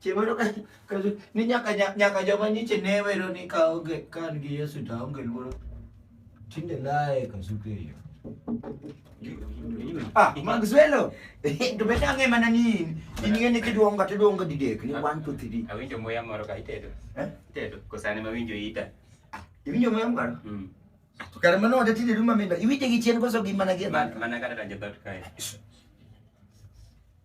chieng' moro ka- ka- ni nyaka nya- nyaka joma nyiche ne wero ni ka onge ka an gi yesu to aonge luoro tinde laye kasuke yo ah magzuelo to be ang'e mana ni in in ng'e ni kiduonga to iduonga didek ni one two three Awinjo muya moro ka itedo. Eh? Itedo. Kosane ma winjo ita. iwinjo moyo mgaro Mm. to kare mano wada tinde duma mendo iwinje gi chien koso gi mana gi Man- Mana kata ranjo dot kae.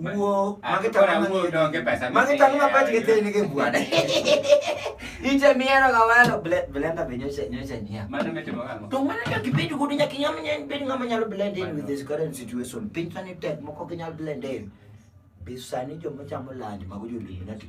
Wuo, ah, magi tang'o wuo donge pesa. Magi tang'o mapach gi tin gi buad. Ije miero ga walo blenda be nyocha nyocha nia. Mano mitimo kama. To mana ka kibedo godo nyaka nyam nyen bed ngama nyalo blend in with this current situation. Piny sani tek moko ginyal blend in. Be sani joma chamo lunch mago jo Illuminati.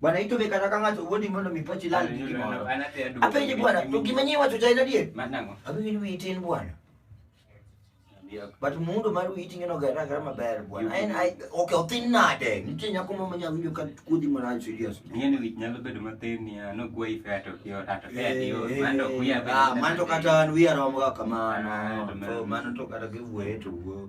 Bwana ito be kata kanga to wodi mondo mi pochi lal gi moro. Apenje bwana, to gima nyi wacho tayna die? Manango. Abi ni wi tin bwana. But mundo mar wi tin no gara gara maber bwana. En ai okay otin nade? Nitie nyako mama nya winjo ka kudi mara serious. Ngene wi nyalo bedo matin ni ano gwa ife ato kio ato fe adio. Mando kuya be. Ah, mando kata wi aromo kamano. Mano to kata giwueto.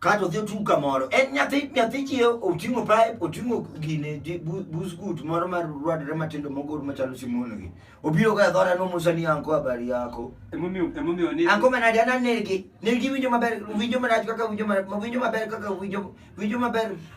kato dhi otung' kamoro en nyathi nyathi chi oting'o pipe oting'o gine busgut moro mar rwadre matindo mogor machalo simono gi obiro ka dhora no musa ni anko habari yako emomiyo emomiyo ni anko manadi ana negi negi winjo maber winjo marach kaka winjo ma winjo maber kaka winjo winjo maber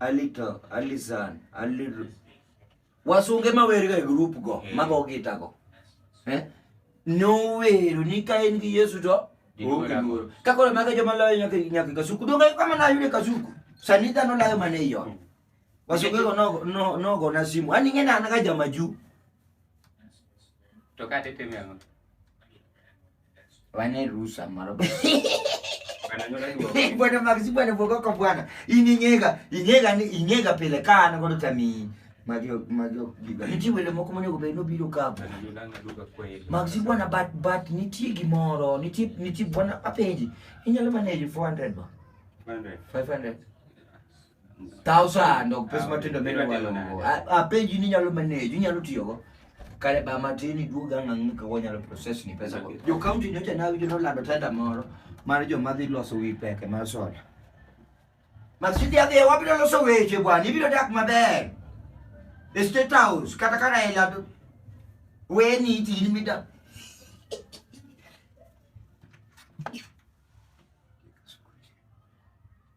Alito, Alisan, Aliru. Wasunge ma werga e group go, eh. mago gita go. Eh? No wero ni ka en gi Yesu to onge luoro. Ka koro mago joma loyo nyaka nyaka kasuku. Donge kama na yude kasuku. Sani dhano layo mana e yo. Wasunge go no no no go na simu. Ani ng'e na na jama juu. To ka tetemi ang'o? Wane rusa maro. Bwana Maxi bwana boka kwa bwana. Ininyega, inyega ni inyega pelekana kwa tami. Magio magio giga. Niti wele moko mwenye ko beno biro kapo. Maxi bwana bat bat niti gimoro, niti niti bwana apeji. Inyalo manage 400 ba. 500. 500. Tao sando pes ah, matindo mene walongo. Apenji ni nyalo manage, inyalo tiyogo. Kare ba matin iduog ang'ang' ni kawo nyalo process ni pesa go. Jo county nyocha na winjo nolando tenda moro mar joma dhi loso wi peke mar soda. Masidi adhi e wabiro loso weche bwana, ibiro dak maber. E State House kata ka Raila weni tini mida.